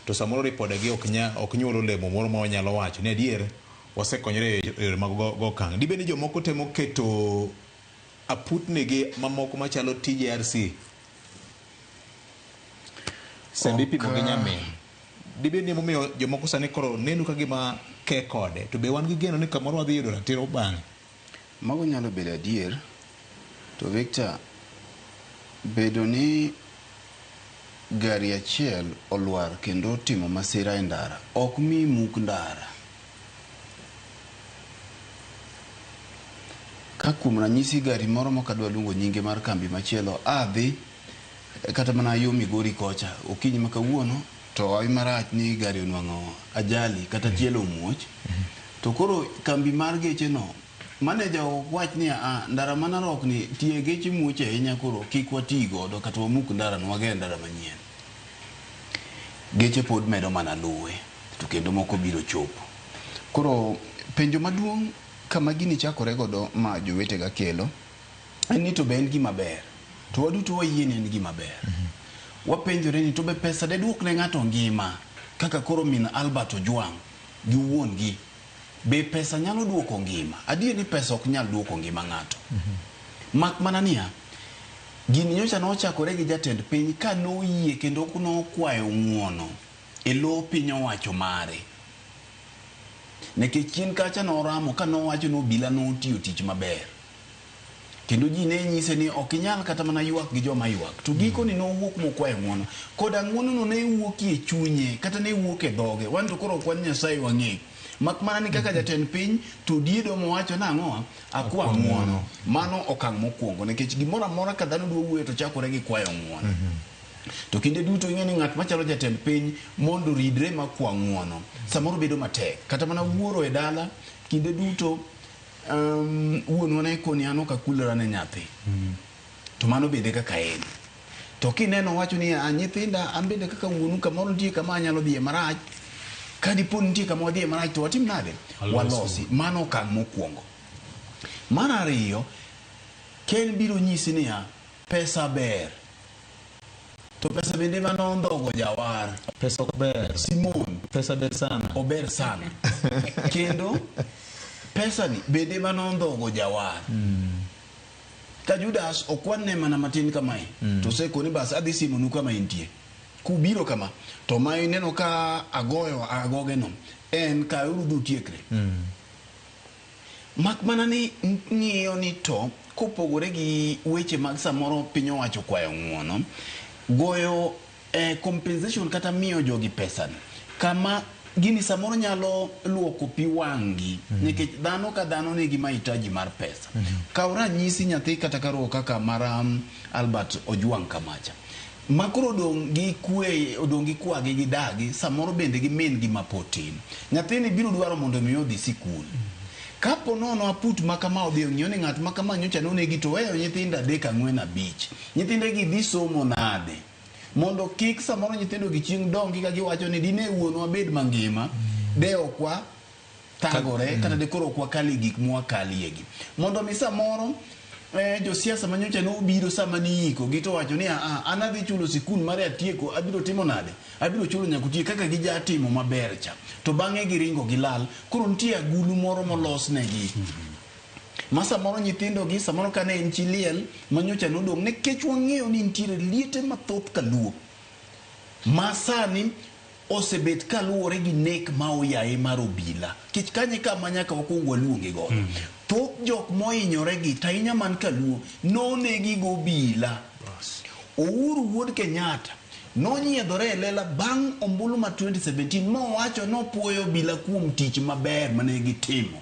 to samoro ripodegi ok nya ok nyuol olemo moro ma wanyalo wacho ni adier wasekonyore e yore mag go go okang'. Dibed ni jomoko temo keto aputnigi mamoko machalo TJRC sani Ok, ipimo gi ah, nyamin. Dibed ni emomiyo jomoko sani koro neno ka gima ke kode to be wan gi geno ni kamoro wadhi yudo ratiro bang'e. Mago nyalo bedo adier. To Victor, bedo ni gari achiel olwar kendo otimo masira e ndara ok mi muk ndara. Ka kuom ranyisi gari moro mok adwa luongo nyinge mar kambi machielo a dhi kata mana yo Migori kocha okinyi ma kawuono to hawi marach ni gari onwang'o ajali kata tielo omuoch to koro kambi mar geche no maneja wach ni a ah, ndara ma Narok ni tie geche muoch ahinya koro kik wati godo kata wamuk ndara no wager ndara manyien geche pod medo mana luwe to kendo moko biro chopo koro penjo maduong' kama gini chakore godo ma jowetega kelo en ni to be en gima ber. To waduto wayie ni en gima ber. Wapenjore ni to be pesa de duok ne ng'ato ngima kaka koro min Albert Ojwang' gi wuon gi. Be pesa nyalo duoko ngima? Adier ni pesa ok nyal duoko ngima ng'ato. Mak mana niya, gini nyocha nochakore gi jatend piny ka noyie kendo nokwayo ng'uono e lo piny owacho mare. Nekech chien kacha noramo ka nowacho ni obila notiyo tich maber. kendo ji ne nyise ni ok inyal kata mana ywak gi joma ywak to gikoni mm. nowuok mokwayo ng'wono kod ang'wonono ne wuoki e chunye kata ne wuok e dhoge wan to koro kwan nyasaye wang'eyo mak mana ni kaka mm-hmm. jatend piny to diedo mowacho nang'o akwa ng'wono mano okang' mokwongo nikech gimoro amora ka dhano dwa wuoyo to chakore gi kwayo ng'wono mm-hmm. to kinde duto ing'e ni ng'at machalo jatend piny mondo ridre makwa ng'wono samoro bedo matek kata mana wuoro e dala kinde duto Um, wuonwa ne koni an ok akulora ne nyathi mm. to mano bende kaka en to kineno wacho ni a ah, nyithinda an bende kaka wuonu kamoro nitie kama anyalo dhiye marach ka dipo nitie kama wadhiye marach to watim nade walosi mano okang' mokwongo mar ariyo ken biro nyisi niya pesa ber To pesa bende mane ondhogo jawar. Pesa ok ber. Simon. Pesa ber sana. Ober sana. Kendo pesa ni bende mane ondhogo jawar. Mm. Ka Judas okwan ne mana matin kamae. Mm. To seko ni bas adhi simo nu kama intie. Kubiro kama. To ma ineno ka agoyo agoge no. En ka urudhu tiekre. Mm. Mak mana ni ng'iyo ni to kopogore gi weche mag samoro piny owacho kwayo ng'uono, goyo eh, compensation kata miyo jogi pesa kama gini samoro nyalo luoko pi wang'gi mm -hmm. nikech dhano ka dhano nigi mahitaji mar pesa mm -hmm. kaw ranyisi nyathi kata karuo kaka mara um, Albert Ojwang' Kamacha ma koro odong' gi kwe, odong' gi kwagi gi dagi, samoro bende gi min gi mapod tin. Nyathini biro dwaro mondo mi odhi sikul. Kapo nono aput ma kama odhi ong'iyo ni ng'at ma kama nyocha nonegi to oweyo nyithindo adek ang'wen abich. Nyithinde gi dhi somo nade? Mondo kik samoro nyithindo gi chieng' dongi ka giwacho ni dine wuonwa bed mangima, de okwa thagore mm. kata dekoro ok wakali gik mwakaliegi mondo mi samoro eh, josiasa manyocha ne obiro sama niiko gi to wacho ni aa an adhi chulo sikul mar atieko abiro timo nade abiro chulo nyaka otiek kaka gija timo maber cha to bang'e giringo gilal koro nitie agulu moro molosnegi mm -hmm ma samoro nyithindogi samoro kane en chi liel manyocha nodong' nikech wang'eyo ni nitiere liete mathoth kaluo ma sani osebet kaluwore gi nek ma oyaye mar obila kech kanyo e kama nyaka wakuong waluonge godo mm. thoth jok mohinyore gi tahinya man kaluo nonegi go obila Ouru wuod Kenyatta nonyiedhore e lela bang' ombulu ma 2017 mowacho nopuoyo obila kuom tich maber mane gitimo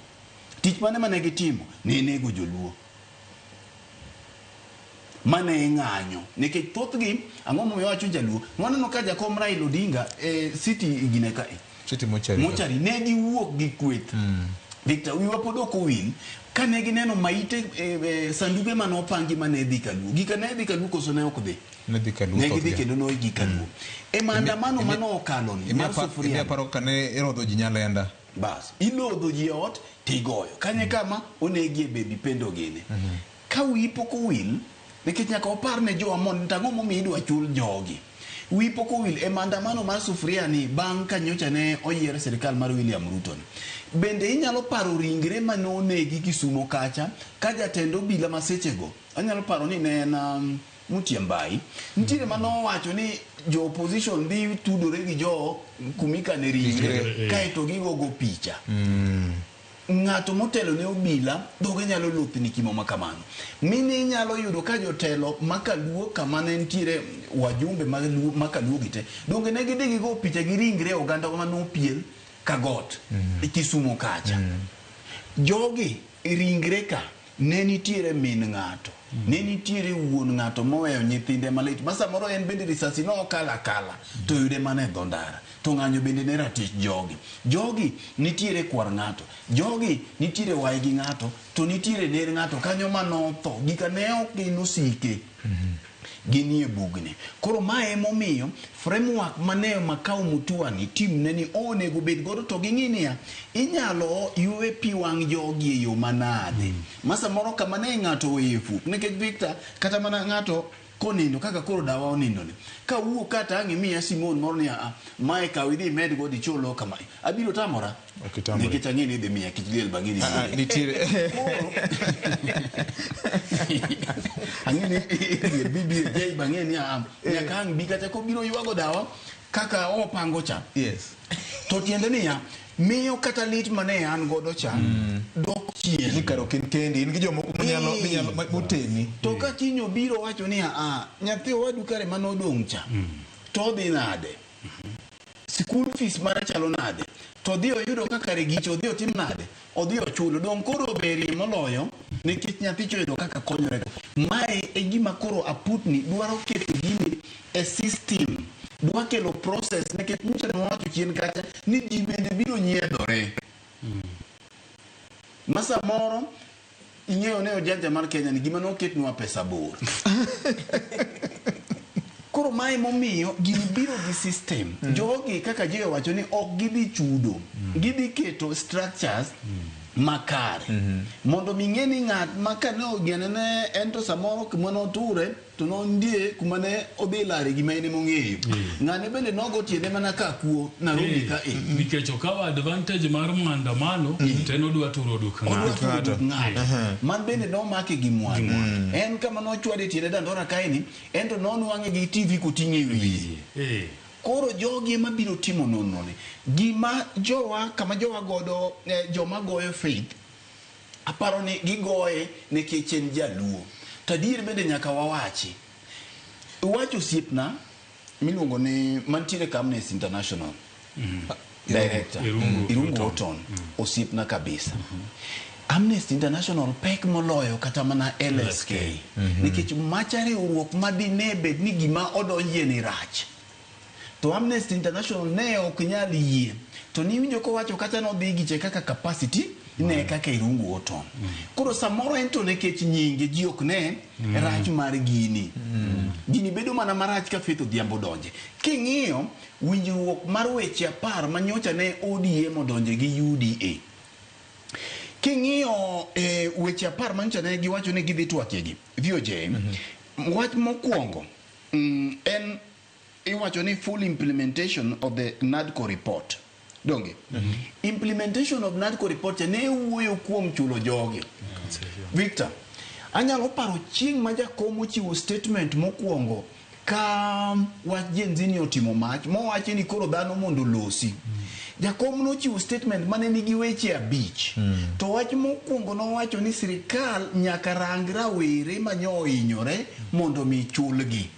tich mane mane gitimo ne nego joluo Mano e ng'anyo. Nikech thothgi, ang'o momiyo awacho jaluo? Nwaneno ka jakom Raila Odinga e city gine ka e. City mochari. Mochari. Ne giwuok gi kweth. Mm. Victor, wiwa pod ok owil. Ka ne gineno maite e, e, sanduge mane opangi ma ne dhi kaluo. Gika ne dhi kaluo koso ne ok dhi? Ne dhi kaluo. Ne gidhi kendo ne gikaluo. Mm. E maandamano mane okalo ni. Imi aparo ka ne irodho ji nyalenda. Bas, ilodho ji e ot to igoyo. Kanye kama onegie baby pendo gini. Ka wiyi pok owil, nikech nyaka wapar ne jo Amon ni to ang'o momiyo idwa chul jogi. Wiyi pok owil e maandamano mar sufuria ni bang' ka nyocha ne oyier sirkal mar William Ruto ni. Bende inyalo paro ringre mane onegi Kisumo kacha ka jatend obila ma sechego, anyalo paro ni ne en um, Mutyembai. Nitiere ma nowacho ni jo opposition dhi tudore gi jo kumika ne ringre Ringre, eh. kaeto gigogo picha. Ng'ato motelo ne obila dhoge nyalo lothni kimo ma kamano. Mine inyalo yudo ka jotelo ma kaluo kama ne nitiere wajumbe ma Luo- ma kaluo gi te donge ne gidhi gigo picha gi ringre oganda ma nopiel ka got e Kisumo kacha. Jogi ringre ka Ne nitiere min ng'ato, ne nitiere wuon ng'ato moweyo nyithinde malit ma samoro en bende risasi nokalo akala to oyude mana e dho ndara. To ng'anyo bende ne ratich jogi. Jogi nitiere kwar ng'ato, jogi nitiere waygi ng'ato to nitiere ner ng'ato kanyo ma notho gika ne ok gin osike. ginie bugni. Koro ma emomiyo framework mane Makau Mutuani team ne ni onego obed godo to ging'i niya, inyalo ywe pi wang' jogi e yo manade. Ma samoro kama ne ng'ato oweye fut. Nikech Victor, kata mana ng'ato konindo kaka koro dawa onindoni. Ka awuok ka tang' imiya simon moro ni aa, mae kaw idhi imedgo dichol ok kama. Abiro tamora? Okitambo. Nikech ang'e ni idhi miya kich liel bang'e ni Ah, ah, nitiere ang'e ni idhi e BBJ bang'e ni am. Nyaka ang' bi kata kobiro ywago dawa kaka opango cha. yes To tiende niya, miyo kata lit mane an godo cha dok chien. ni karo kin kendi in gi jomoko manyalo Ee. manyalo ma- moteni To ka kiny obiro wacho niya, ah, nyathi owadu kare mane odong' cha, to odhi nade? school fees mare chalo nade to odhi oyudo ka kare giche odhi otim nade odhi ochulo donge koro oberie moloyo nikech nyathicha oyudo kaka konyorego mae e gima koro aputni dwaro keto gini e system dwa kelo process nikech nyicha ne wawacho chien kacha ni ji bende biro nyiedhore ma samoro Ing'eyo ne ojanja mar Kenya ni gima noketnwa pesa bor. Koro mae momiyo gini biro gi system. Mm. Jogi kaka Jay owacho ni ok gidhi chudo. Mm. Gidhi keto structures mm. makare. Mm -hmm. Mondo ming'e ni ng'at ma kane ogenene en to samoro kama noture to nondie kuma ne odhi lare gima en emong'eyo mm. ng'ane bende nogo tiende mana ka kuo narobi mm. ka e nikech okawo advantage mar maandamano mm. te nodwa turo duk ng'ato man bende nomake gi mwandu en kama nochwade tiende dandora kaeni en to nonwang'e gi tv koting'e wiye eh. koro jogi ema biro timo nononi gima jowa kama jowa godo eh, joma goyo faith Aparo ni gigoye nekech en jaluo. To adier bende nyaka wawachi. Iwacho osiepna miluongo ni mantiere ka Amnesty International. Director. Irungu, Irungu Oton. Mm. Osiepna kabisa. Mm -hmm. Amnesty International pek moloyo kata mana LSK mhm. nikech macha riwruok madine bed ni gima odonjie ni rach To Amnesty International ne ok nyal yie. To niwinjo kowacho kata nodhi giche kaka capacity ne kaka irungu oton. Koro samoro en to nekech nyinge ji ok ne rach mar gini. Gini bedo mana marach ka Faith Odhiambo donje. King'iyo winjruok mar weche apar manyocha ne ODM odonje gi UDA. King'iyo eh, weche apar manyocha ne giwacho ni gidhi twakegi VOJ. Wach mokwongo Mm, en iwacho ni full implementation of the NADCO report donge mm -hmm. implementation of NADCO report ne wuoyo kuom chulo jogi mm -hmm. Victor anyalo paro chieng' ma jakom ochiwo statement mokwongo ka wach jenzini otimo mach mowache ni koro dhano mondo losi mm -hmm. Jakom nochiwo statement ma ne nigi weche abich, to wach mokwongo nowacho ni sirkal nyaka rang rawere ma nyo ohinyore mondo mi chulgi.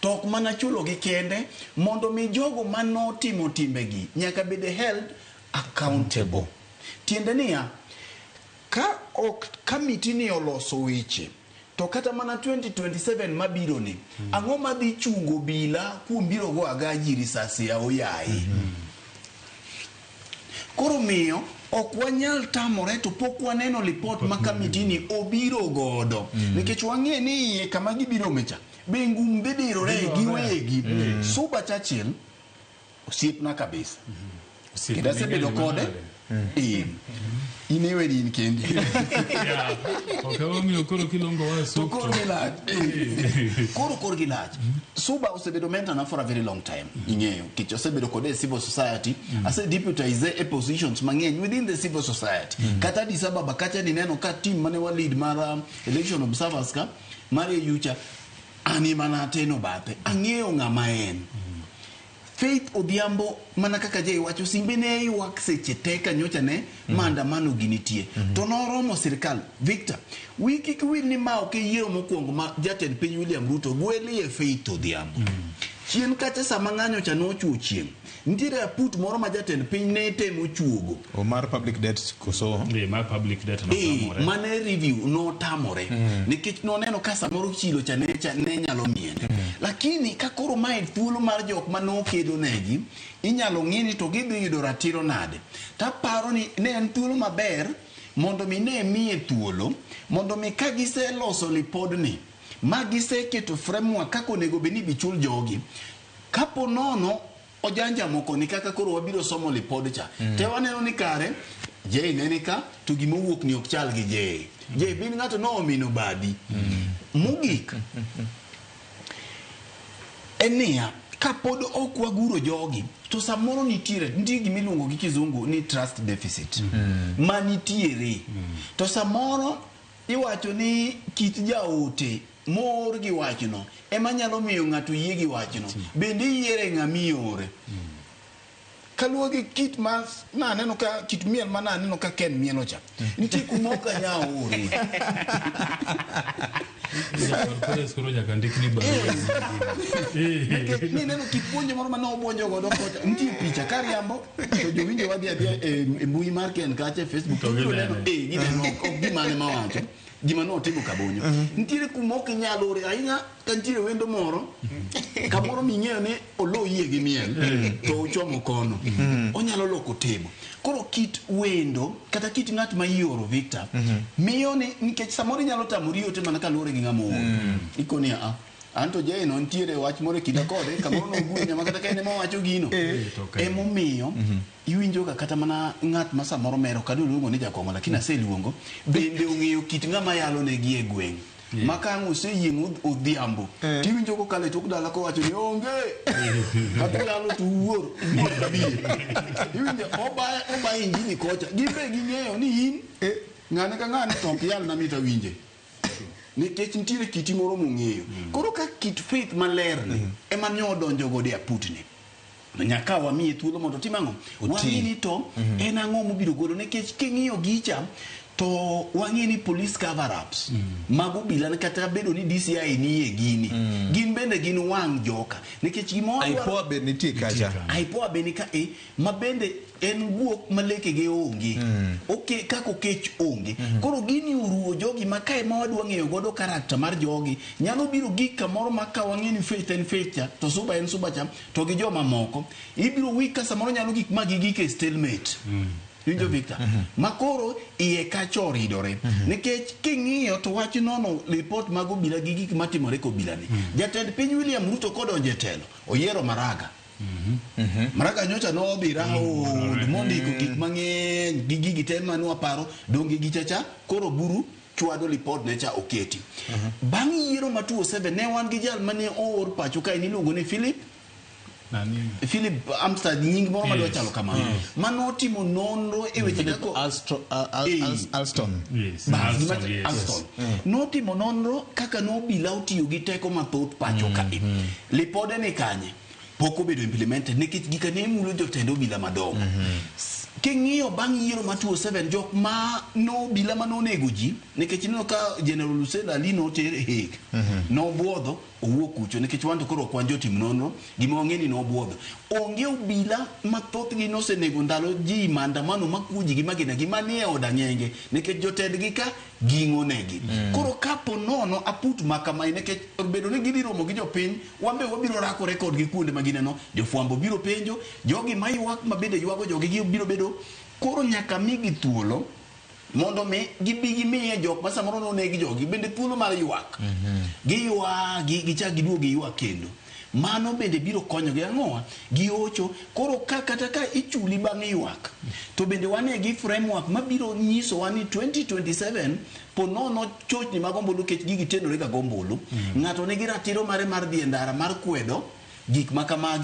To ok mana chulogi kende, mondo mi jogo ma notimo timbegi nyaka bed held accountable. Tiende niya, ka ok kamitini oloso weche To kata mana 2027 mabironi, mm. ang'o madhi chungo obila kuom biro go agaji risasi ya oyaye? Mm -hmm. Koro miyo ok wanyal tamore to pok waneno lipot ma kamitini obiro godo mm. nikech wang'e ni iye kama gibiro mecha be ngum dhi dirore giwegi mm. Suba Churchill Osiepna kabisa. Osiepni Kendo asebedo ng'eny kode. manade. Ee. In iweni in kendi. Yeah. Ok emomiyo koro kilongo wa To sup. koro gilach. Ee. Koro koro gilach. Suba osebedo mentor na for a very long time. Ing'eyo. Kech osebedo kode e civil society. Ase deputize e positions mang'eny within the civil society. Kata Addis Ababa kacha nineno ka team mane wa lead mar um, election observers ka mar yucha ani mana ateno bathe. Ang'eyo ng'ama en. Faith Odhiambo, Mana kaka Jay wacho, simbe ne ywak seche te ka nyocha ne maandamano gi nitie. To noromo sirkal. Victor, Wiyi kik wil ni ma ok e yiero mokwongo ma jatend piny William Ruto gwelie Faith Odhiambo. Chien kacha sama ng'anyo cha ne ochwo chieng', nitiere aput moro ma jatend piny ne temo chuogo. O mar public debt koso? Ee, mar public debt notamore. Ee, mane review notamore. Mm. Nikech noneno ka samoro chilo cha ne, cha ne nyalo miene. Mm. Lakini ka koro mae thuolo mar jok ma nokedo negi, inyalo ng'i ni to gidhi yudo ratiro nade. Taparo ni ne en thuolo maber mondo mi ne miye thuolo, mondo mi ka giseloso lipodni, ma giseketo framework kako onego bed ni bichul jogi, kapo nono Ojanja moko ni kaka koro wabiro somo lipod cha. Mm. Te waneno ni kare Jay ne ni ka to gima wuok ni ok chal gi Jay. Jay bin ng'ato no omino badi. Mm. Mugik. Enia kapod ok waguro jogi to samoro nitiere nitie gima iluongo gi kizungu ni trust deficit mm. ma nitiere mm. to samoro Iwacho ni kit jaote moor gi wachno ema nyalo miyo ng'ato yie gi wachno. Bende iyiere ng'a miore? Kaluwore gi kit ma naneno ka kit miel ma naneno ka Ken mielo cha, nitie kuma ok anyal ore. Pres koro nyaka ndikni barua. Nikech nineno kit puonjo moro ma ne obuonjo godo kocha, nitie picha kariambo to jowinjo wadhi adhiya e, e mbui mar ken kacha e facebook to biro neno e gineno ok gimane ma wacho gima notimo kabonyo mhm. nitiere kuma ok inyal ore ahinya ka nitiere wendo moro mhm. kamoro ming'eyo ni olo yie gi miel mhm. to ochomo kono onyalo loko timo koro kit wendo kata kit ng'at ma ioro victor miyo ni nikech samoro inyalo tamori ote mana kaluwore gi ng'ama ooro ikoni a Anto Jay no nitiere wach moro e kinda kode kamoro nogwenya ma kata ka en ema wacho gino eh, emomiyo mhm. iwinjoga kata mana ng'at ma samoro mero kado luongo ni jakong'o lakini mhm. aseluongo bende ong'eyo kit ng'ama yalo ne gi e gweng' ma ka ang' oseyieng' odhiambo eh. tiwinjo kokalo e tok dala kowacho ni onge kata yalo to wuor wuor kabie iwinjo obayo injini kocha gin be ging'eyo ni in eh. ng'ane ka ng'ane to ok yal na mit awinje nikech nitiere kiti moro mong'eyo mm. koro ka kit faith maler ni mm. ema nyo odonjo godo e aputni nyaka wamiye thuolo mondo otim ang'o wang'e ni to mm-hmm. en ang'o mobiro golo nikech king'iyo gicha to wang'e ni police cover ups mm. mago bila ne kata bedo ni DCI ni e gini mm. gin bende gin wang' joka nikech gimoro aipoa be nitie kacha aipoa be ni ka e ma bende en guok ma lekege onge oke kaka okech onge koro gini oruwo jogi ma ka ema wadwa ng'eyo godo karakta mar jogi nyalo biro gik kamoro ma ka wang'e ni faith en faith cha to suba en suba cha to gi jomamoko ibiro wik ka samoro nyalo gik ma gigik e stalemate Winjo Victor? Ma koro iye kacha oridore. Nikech king'iyo to wach nono report mag obila gi gik matimore kobilani. Jatend piny William Ruto kodonjo e telo, oyiero Maraga. Maraga nyocha nobira oond mondiko gik mang'eny gi gigi te ma nwaparo donge gicha cha koro buru chwado lipod ne cha oketi. Bang' yiero ma 2007 ne wan gi jal mane oor pacho kae niluongo ni Philip Nani? Philip Amstad nying moro madwa Yes. chalo kamano ma notimo nonro e weche Philip kaka Alstro- Al- Al- Eh. Al- Alston. Yes. Bas, Alston, gima- yes. Alston. notimo nonro kaka ne obila otiyo gi teko mathoth pacho kae lipode ni kanye pok obedo implemented nikech gika ne mulo jotend obila madongo. Mm -hmm. King'iyo bang' yiero ma 27 jok ma no obila ma nonego ji nikech ineno ka General Hussein Ali noter e Hague. Mm -hmm. Nobwodho owuok kucho nikech wanto koro kwan jotim nonro gima wang'e ni nobwodho. Onge obila ma thothgi nosenego ndalo ji maandamano ma kuji gi magina gi manie od ang'enge nikech jotendgi ka ging'onegi. Mm -hmm. Koro kapo nono aput makama nikech bedo ni gidhi romo gi jopiny Wan be wabiro rakore kodgi kuonde ma gineno. Jofwambo biro penjo, jogi ma ywak ma bende ywago jogi gi biro bedo koro nyaka migi thuolo mondo mi gibi gimiye jok ma samoro noneg jogi bende thuolo mar ywak. Giywa gi- gichak giduog giywak kendo. Mano bende biro konyogi ang'o? Giocho. Koro ka kata ka ichuli bang' ywak, to bende wane gi framework mabiro nyisowa ni 2027 Po nono chochni mag ombulu kech gigi tenorega gombulu. Ng'ato nigi ratiro mare mar dhi e ndara mar kwedo gik ma kamagi.